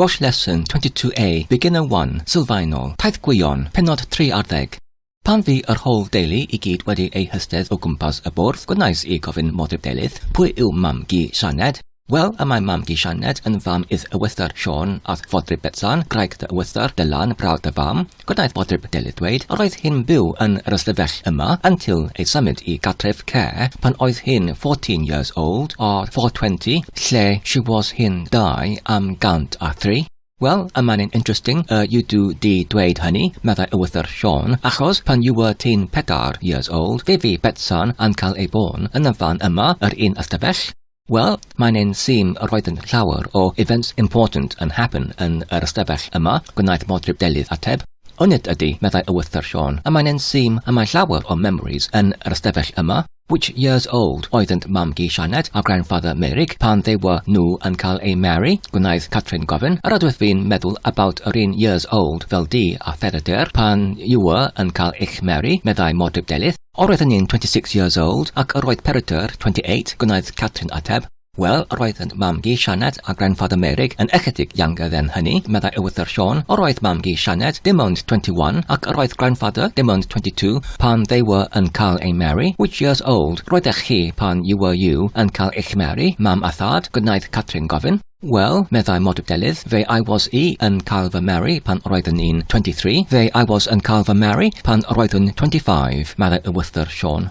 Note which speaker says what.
Speaker 1: Welsh Lesson 22A, Beginner 1, Sylfaenol, Taith Gwion, Pennod 3 ar Ddeg. Pan fu yr Hoel Deulu i gyd wedi eu hystedd o gwmpas y bwrdd, gwnais i gofyn Modryb Delyth, Pwy yw Mam-gu Sianed? Wel, y mae Mam-gu Sianed yn fam i'th ewythr Siôn a'th fodryb Betsan, gwraig dy ewythr, Dylan, brawd dy fam. Gwnaeth Boteb Delyth ddweud yr oedd hi'n byw yn yr ystafell yma until ei symud i gartref care pan oedd hi'n 14 years old or 420 lle she was hi'n 203. Wel, y mae'n yn interesting y you do di dweud hynny, meddai Ewythr Siôn, achos pan you were ti'n pedair years old fe fu Betsan yn cael ei bôn yn y fan yma, yr un ystafell, Wel, mae'n ein sîm yr oeddynt llawer o events important yn happen yn yr ystafell yma, gwnaeth Modryb Delydd ateb. O nid ydy, meddai Ywythr Siôn, a mae'n ein sîm y mae llawer o memories yn yr ystafell yma, Which years old oeddynt mam-gu Sianed a grandfather Meurig pan they were nhw yn cael eu marry? gwnaeth Catrin gofyn. Yr oeddwyt fi'n meddwl about yr un years old fel di a Pheredur pan you were yn cael eich marry, meddai Modryb Delydd. Yr oedd Anning 26 years old ac yr oedd Peredur 28, gwnaeth Catrin ateb. Wel, yr oedd yn mam-gu Sianed a grandfather Merig yn ychydig younger then hynny, meddai Ewythr Siôn, yr oedd mam-gu Sianed dim ond 21 ac yr oedd grandfather dim ond 22 pan they were yn cael eu marry, which years old roeddech chi pan you were you yn cael eich marry, mam a thad? gwnaeth Catrin gofyn. Wel, meddai Modibdelydd, fe I was i yn cael fy marry pan roeddwn i'n 23, fe I was yn cael fy marry pan roeddwn 25, meddai y wythwr Siôn.